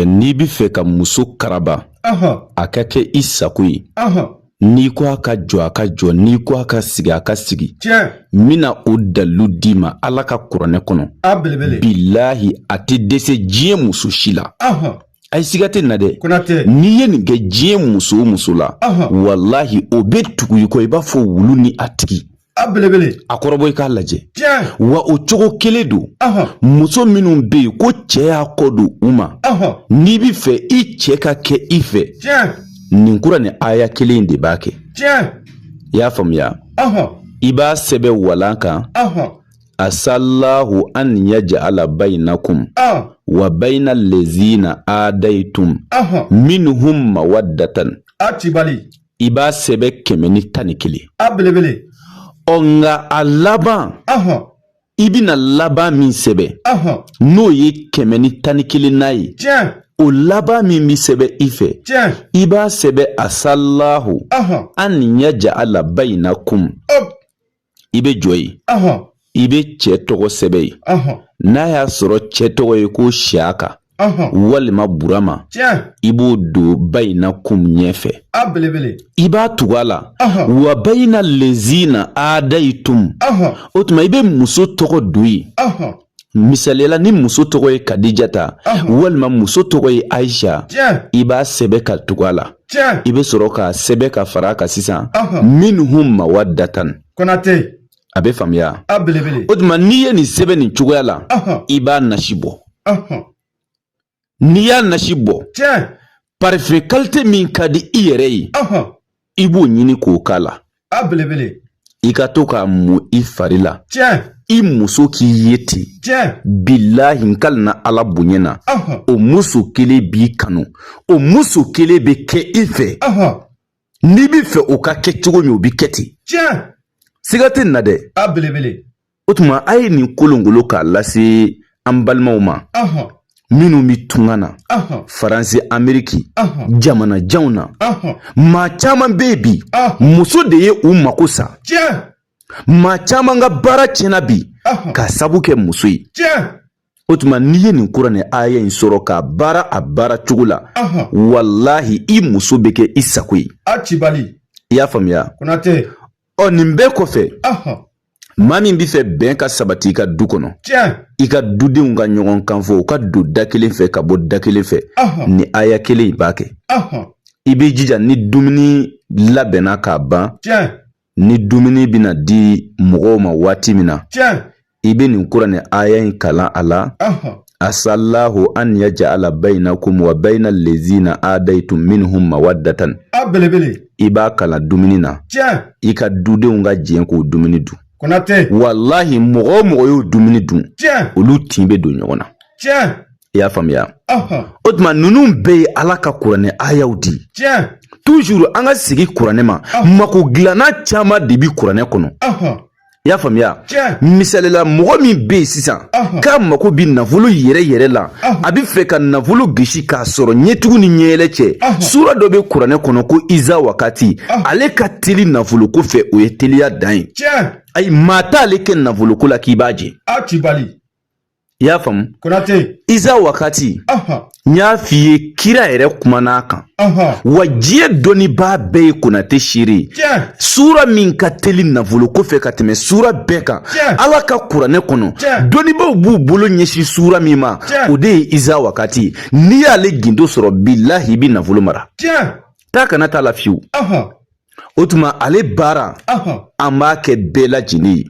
n'i bɛ fɛ ka muso karaba a ka kɛ i sago ye n'i ko a ka jɔ a ka jɔ n'i ko a ka sigi a ka sigi n bɛna o dalilu d'i ma ala ka kuranɛ kɔnɔ bilahi a tɛ dɛsɛ diɲɛ muso si la a ye siga tɛ na dɛ n'i ye nin kɛ diɲɛ muso o muso la walahi o bɛ tugu i kɔ i b'a fɔ wulu ni a tigi A belebele a kɔrɔbɔ i k'a lajɛ wa o cogo kelen don muso minnu bɛ yen ko cɛ y'a kɔ don u ma n'i bɛ fɛ i cɛ ka kɛ i fɛ nin kuranɛ aya kelen de b'a kɛ i y'a faamuya i b'a sɛbɛn walan kan asalahu an yajala bayinakum wa bayina lezina adayitum minhum mawadatan a tibali i b'a sɛbɛ kɛmɛ ni tan ni kelen a belebele ɔ nka a laban ahɔn i bɛna laban min sɛbɛn ahɔn n'o ye kɛmɛ ni tan ni kelennan ye tiɲɛ o laban min bɛ sɛbɛn i fɛ tiɲɛ i b'a sɛbɛn asalahu ahɔn an yajala bayinakum ɔp i bɛ jɔ yen i bɛ cɛ tɔgɔ sɛbɛn yen n'a y'a sɔrɔ cɛ tɔgɔ ye ko siyaka walima burama i b'o don bayinakum ɲɛfɛ i b'a tugu a la wa bayina lezina adayitum o tuma i bɛ muso tɔgɔ don yen Misaliya la ni muso tɔgɔ ye kadijata walima muso tɔgɔ ye ayisa i b'a sɛbɛ ka tugu a la i bɛ sɔrɔ k'a sɛbɛ ka fara a kan sisan minhum mawadatan kotɛ a bɛ faamuya o tuma n'i ye nin sɛbɛn nin cogoya la i b'a nasi bɔ n'i y'a nasi bɔ parifɛn kalite min ka di i yɛrɛ ye i b'o ɲini k'o k'a la i ka to k'a mu i fari la i muso k'i ye ten bilahi n kalina ala bonya na o muso kelen b'i kanu o muso kelen bɛ kɛ i fɛ n'i bɛ fɛ o ka kɛ cogo min o bɛ kɛ ten siga tɛ na dɛ o tuma a ye nin kolongolo k'a lase an balimaw ma minnu bɛ tunga na faransi ameriki jamana janw na maa caman bɛ yen bi muso de ye u mako sa maa caman ka baara tiɲɛna bi ka sabu kɛ muso ye o tuma n'i ye nin kuranɛ aya in sɔrɔ k'a baara a baara cogo la walahi i muso bɛ kɛ i sago ye a cibali i y'a faamuya konatɛ ɔ nin bɛɛ kɔfɛ maa min bɛ fɛ bɛn ka sabati i ka du kɔnɔ i ka dudenw ka ɲɔgɔn kan fɔ u ka don da kelen fɛ ka bɔ da kelen fɛ nin aya kelen in b'a kɛ i b'i jija ni dumuni labɛnna ka ban ni dumuni bɛna di mɔgɔw ma waati min na i bɛ nin kuranɛ aya in kalan a la asalahu an ya ja'ala bainakum wa baina lezina adaitum minhum mawaddatan a belebele i b'a kalan dumuni na tiɲɛ i ka dudenw ka jɛn k'o dumuni dun konatɛ walahi mɔgɔ o mɔgɔ y'o dumuni dun tiɲɛ olu tin bɛ don ɲɔgɔn na tiɲɛ i y'a faamuya o tuma ninnu bɛɛ ye ala ka kuranɛ ayaw di tiɲɛ tuzuru an ka sigi kuranɛ ma mako dilanna caman de bi kuranɛ kɔnɔ i y'a faamuya misalila mɔgɔ min bɛ yen sisan k'a mako bɛ nafolo yɛrɛ yɛrɛ la a bɛ fɛ ka nafolo gosi k'a sɔrɔ ɲɛtugu ni ɲɛyɛlɛ cɛ sura dɔ bɛ kuranɛ kɔnɔ ko iza wakati ale ka teli nafolo ko fɛ o ye teliya dan ye ayi maa t'ale kɛ nafoloko la k'i b'a jɛ i y'a faamu konate iza wakati n y'a f'i ye kira yɛrɛ kumana a kan wa diɲɛ dɔnnibaa bɛɛ ye konate seere sura min ka teli nafolo ko fɛ ka tɛmɛ sura bɛɛ kan ala ka kuranɛ kɔnɔ dɔnnibaaw b'u bolo ɲɛsin sura min ma o de ye iza wakati n'i y'ale gindo sɔrɔ bilahi i bi nafolo mara taa ka na t'a la fiyewu o tuma ale baara an b'a kɛ bɛɛ lajɛlen ye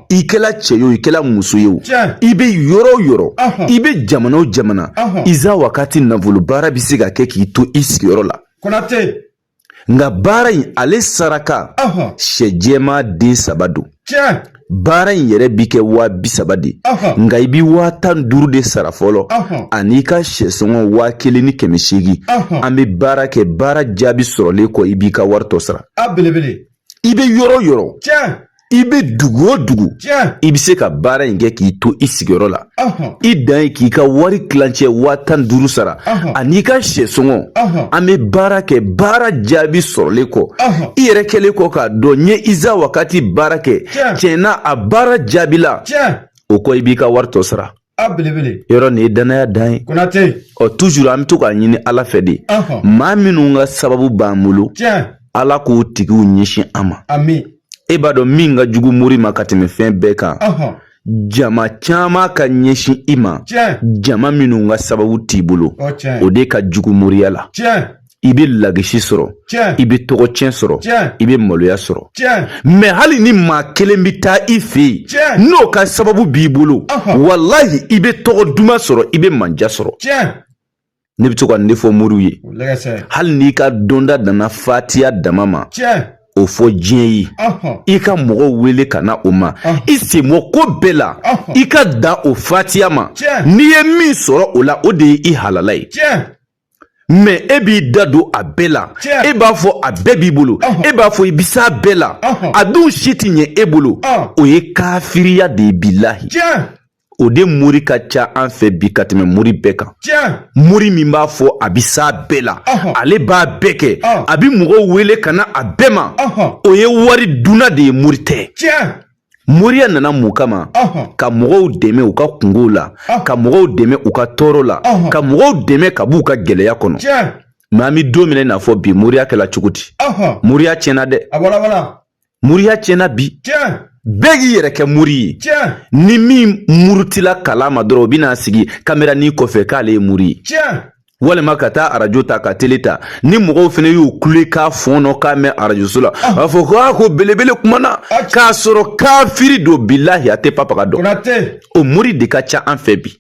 i kɛla cɛ ye o i kɛla muso ye o i bɛ yɔrɔ o yɔrɔ i bɛ jamana o jamana iza wakati nafolo baara bɛ se ka kɛ k'i to i sigiyɔrɔ la konatɛ nka baara in ale saraka sɛ jɛma den saba don baara in yɛrɛ bi kɛ waa bi saba de nka i bi waa tan duuru de sara fɔlɔ an'i ka sɛsɔngɔ waa kelen ni kɛmɛ seegin an bɛ baara kɛ baara jaabi sɔrɔlen kɔ i b'i ka wari tɔ sara i bɛ yɔrɔ o yɔrɔ i bɛ dugu o dugu i bɛ se ka baara in kɛ k'i to i sigiyɔrɔ la i dan ye k'i ka wari kilancɛ waa tan duuru sara an'i ka sɛsɔngɔ an bɛ baara kɛ baara jaabi sɔrɔlen kɔ i yɛrɛ kɛlen kɔ k'a dɔn n ye iza wakati baara kɛ tiɲɛ na a baara jaabila o kɔ i b'i ka wari tɔ sara a belebele yɔrɔ nin ye danaya dan ye konate ɔ tuzur an bɛ to k'a ɲini ala fɛ de maa minnu ka sababu b'an bolo ala k'o tigiw ɲɛsin an ma e b'a dɔn min ka jugu mori ma ka tɛmɛ fɛn bɛɛ kan jama caman ka ɲɛsin i ma jama minnu ka sababu t'i bolo o de ka jugu moriya la i bɛ lagisi sɔrɔ i bɛ tɔgɔ tiɲɛ sɔrɔ i bɛ maloya sɔrɔ mɛ hali ni maa kelen bɛ taa i fɛ yen n'o ka sababu b'i bolo walahi i bɛ tɔgɔ duman sɔrɔ i bɛ manja sɔrɔ ne bɛ to ka nin de fɔ moriw ye hali n'i ka dɔnta danna fatiya dama ma o fɔ diɲɛ ye i ka mɔgɔw wele ka na o ma i sen bɔ ko bɛɛ la i ka dan o fatiya ma n'i ye min sɔrɔ o la o de ye i halala ye mɛ e b'i da don a bɛɛ la e b'a fɔ a bɛɛ b'i bolo e b'a fɔ i bɛ s'a bɛɛ la a dun si tɛ ɲɛ e bolo o ye kafiriya de ye bilahi o de mori ka ca an fɛ bi ka tɛmɛ mori bɛɛ kan mori min b'a fɔ a bi s'a bɛɛ la ale b'a bɛɛ kɛ a bi mɔgɔw wele ka na a bɛɛ ma o ye wari dunna de ye mori tɛ moriya nana mun kama ka mɔgɔw dɛmɛ u ka kungow la ka mɔgɔw dɛmɛ u ka tɔɔrɔ la ka mɔgɔw dɛmɛ ka b'u ka gɛlɛya kɔnɔ mɛ an bi don min na i n'a fɔ bi moriya kɛla cogo di moriya tiɲɛna dɛ moriya tiɲɛna bi bɛɛ k'i yɛrɛ kɛ mori ye ni min murutila kalan ma dɔrɔn o bɛna sigi kamera nin kɔfɛ k'ale ye mori ye walima ka taa arajo ta ka tele ta ni mɔgɔw fana y'o kulekan fɔɔnɔkan mɛn arajoso la a b'a fɔ ko a ko belebele kumana k'a sɔrɔ kafiri don bilahi a tɛ papaga dɔn o mori de ka ca an fɛ bi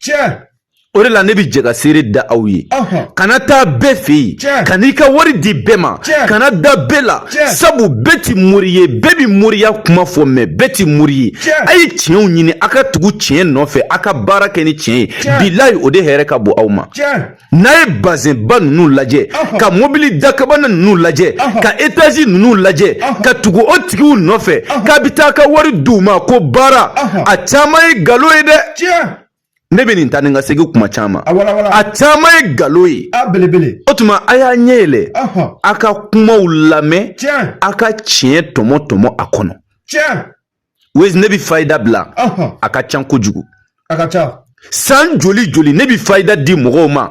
o de la ne bi jɛ ka seere da aw ye kana taa bɛɛ fɛ yen ka n'i ka wari di bɛɛ ma kana da bɛɛ la sabu bɛɛ ti mori ye bɛɛ bi moriya kuma fɔ mɛ bɛɛ ti mori ye a ye tiɲɛw ɲini a ka tugu tiɲɛ nɔfɛ a ka baara kɛ ni tiɲɛ ye bilayi o de hɛrɛ ka bon aw ma n'a ye bazɛnba ninnu lajɛ ka mobili dakabana ninnu lajɛ ka etazi ninnu lajɛ ka tugu o tigiw nɔfɛ k'a bi taa ka wari di u ma ko baara a caman ye galo ye dɛ ne bɛ nin ta ni ka segin kuma caman a caman ye galo ye o tuma a y'a ɲɛ yɛlɛ a ka kumaw lamɛn a ka tiɲɛ tɔmɔ tɔmɔ a kɔnɔ wezi ne bɛ fayida bila a ka ca kojugu san joli joli ne bɛ fayida di mɔgɔw ma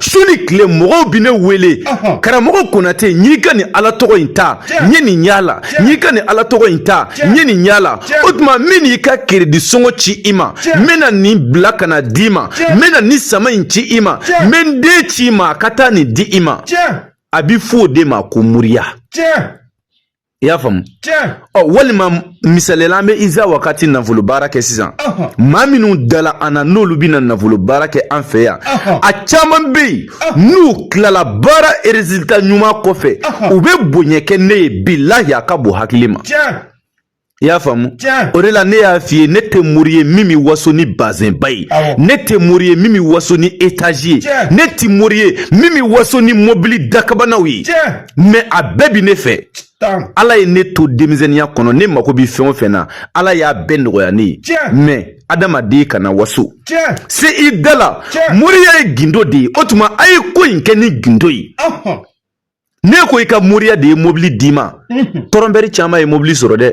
su ni tile mɔgɔw bi ne wele karamɔgɔ konate n y'i ka nin ala tɔgɔ in ta n ye nin y'a la n y'i ka nin ala tɔgɔ in ta n ye nin y'a la o tuma n bɛ n'i ka keredi sɔngɔ ci i ma n bɛna nin bila ka na d'i ma n bɛna nin sama in ci i ma n bɛ n den ci i ma a ka taa nin di i ma a bɛ fɔ o de ma ko moriya i y'a faamu ɔ walima misaliya la an bɛ iza wakati nafolo baara kɛ sisan maa minnu dala an na n'olu bɛna nafolo baara kɛ an fɛ yan a caman bɛ yen n'u tilala baara erezilita ɲuman kɔfɛ u bɛ bonya kɛ ne ye bilahi a ka bon hakili ma i y'a faamu o de la ne y'a f'i ye ne tɛ mori ye min bɛ waso ni bazɛnba ye ne tɛ mori ye min bɛ waso ni etazi ye ne tɛ mori ye min bɛ waso ni mobili dakabanaw ye mɛ a bɛɛ bɛ ne fɛ ala ye ne to denmisɛnninya kɔnɔ ne mago bɛ fɛn o fɛn na ala y'a bɛɛ nɔgɔya ne ye mɛ adamaden kana waso se i da la moriya ye gindo de ye o tuma a ye ko in kɛ ni gindo ye n'e ko i ka moriya de ye mobili d'i ma tɔrɔnbɛri caman ye mobili sɔrɔ dɛ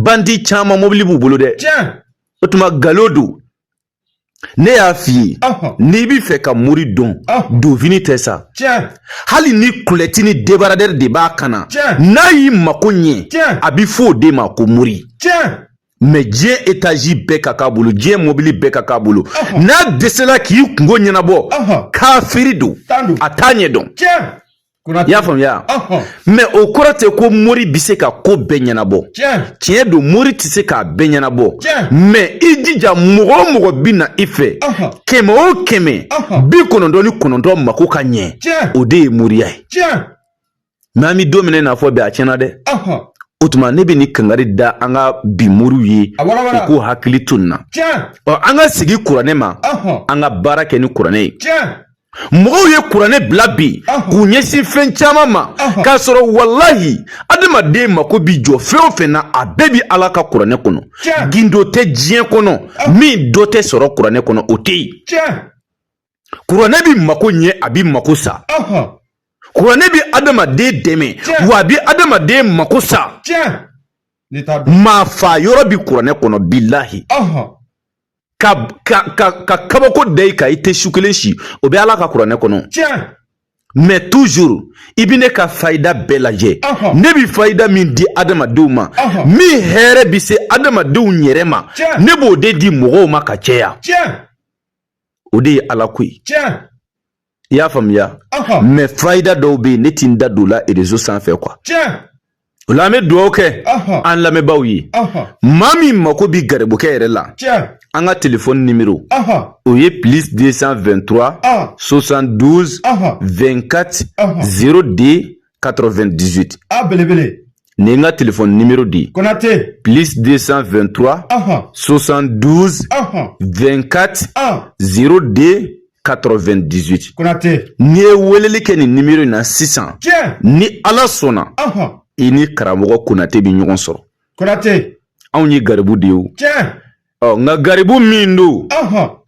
bandi caman mobili b'u bolo dɛ o tuma galo don ne y'a f'i ye n'i b'i fɛ ka mori dɔn donfini tɛ sa hali ni kulɛti ni debaradɛri de b'a kan na n'a y'i mako ɲɛ a bɛ fɔ o de ma ko mori mɛ diɲɛ etazi bɛɛ ka k'a bolo diɲɛ mobili bɛɛ ka k'a bolo n'a dɛsɛla k'i kungo ɲɛnabɔ kafiri don a t'a ɲɛ dɔn i y'a faamuya mɛ o kɔrɔ tɛ ko mori bɛ se ka ko bɛɛ ɲɛnabɔ tiɲɛ don mori tɛ se k'a bɛɛ ɲɛnabɔ mɛ i jija mɔgɔ o mɔgɔ bɛ na i fɛ kɛmɛ o kɛmɛ bi kɔnɔntɔn ni kɔnɔntɔn mako ka ɲɛ o de ye moriya ye mɛ an bɛ don min na fɔ bi a tiɲɛna dɛ o tuma ne bɛ nin kangari da an ka bi moriw ye u k'u hakili to nin na ɔ an ka sigi kuranɛ ma an ka baara kɛ ni kuranɛ ye mɔgɔw ye kuranɛ bila bi k'u ɲɛsin fɛn caman ma k'a sɔrɔ walahi adamaden mako bi jɔ fɛn o fɛn na a bɛɛ bi ala ka kuranɛ kɔnɔ gindo tɛ diɲɛ kɔnɔ min dɔ tɛ sɔrɔ kuranɛ kɔnɔ o tɛ yen kuranɛ bi mako ɲɛ a bi mako sa kuranɛ bi adamaden dɛmɛ wa a bi adamaden mako sa maa fa yɔrɔ bi kuranɛ kɔnɔ bilahi ka kabako da i kan i tɛ su kelen si o bɛ ala ka kuranɛ kɔnɔ mɛ toujours i bi ne ka fayida bɛɛ lajɛ ne bi fayida min di adamadenw ma min hɛrɛ bi se adamadenw yɛrɛ ma ne b'o de di mɔgɔw ma ka cɛya o de ye ala ko ye i y'a faamuya mɛ fayida dɔw bɛ yen ne ti n da don la erezo sanfɛ kuwa o la an bɛ dugawu kɛ an lamɛnbaaw ye maa min mako bi garibukɛ yɛrɛ la an ka telefɔni nimero o ye plus 223 72 24 02 98 a belebele nin n ka telefɔni nimero di konate plus 223 ɔhɔn 72 ɔhɔn 24 ɔn 02 98 konate n'i ye weleli kɛ nin nimero in na sisan tiɲɛ ni ala sɔnna ɔhɔn i ni karamɔgɔ konate bɛ ɲɔgɔn sɔrɔ konate anw ye garibu de ye o tiɲɛ Ɔ nka garibu min don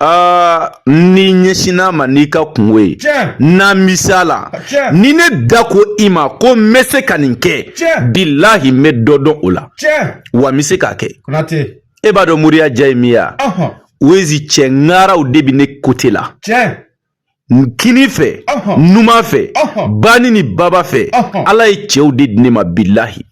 aa n'i ɲɛsinn'a ma n'i ka kunko ye n'a misala ni ne da ko i ma ko n bɛ se ka nin kɛ bilahi n bɛ dɔ dɔn o la wa n bɛ se k'a kɛ e b'a dɔn moriya diya ye min ye wa wezi cɛ ŋaraw de bɛ ne kote la kini fɛ numan fɛ bani ni baba fɛ ala ye cɛw de di ne ma bilahi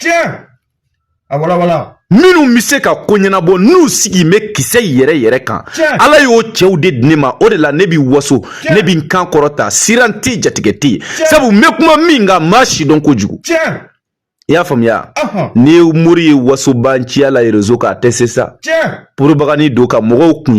minnu bɛ se ka ko ɲɛnabɔ n'u sigi bɛ kisɛ yɛrɛ yɛrɛ kan ala y'o cɛw de di ne ma o de la ne bɛ waso ne bɛ n kan kɔrɔta siran tɛ jatigɛ tɛ yen sabu n bɛ kuma min kan maa si dɔn kojugu i y'a faamuya ni mori ye wasobanciya la rezo kan a tɛ se sa poropagandi don ka mɔgɔw kun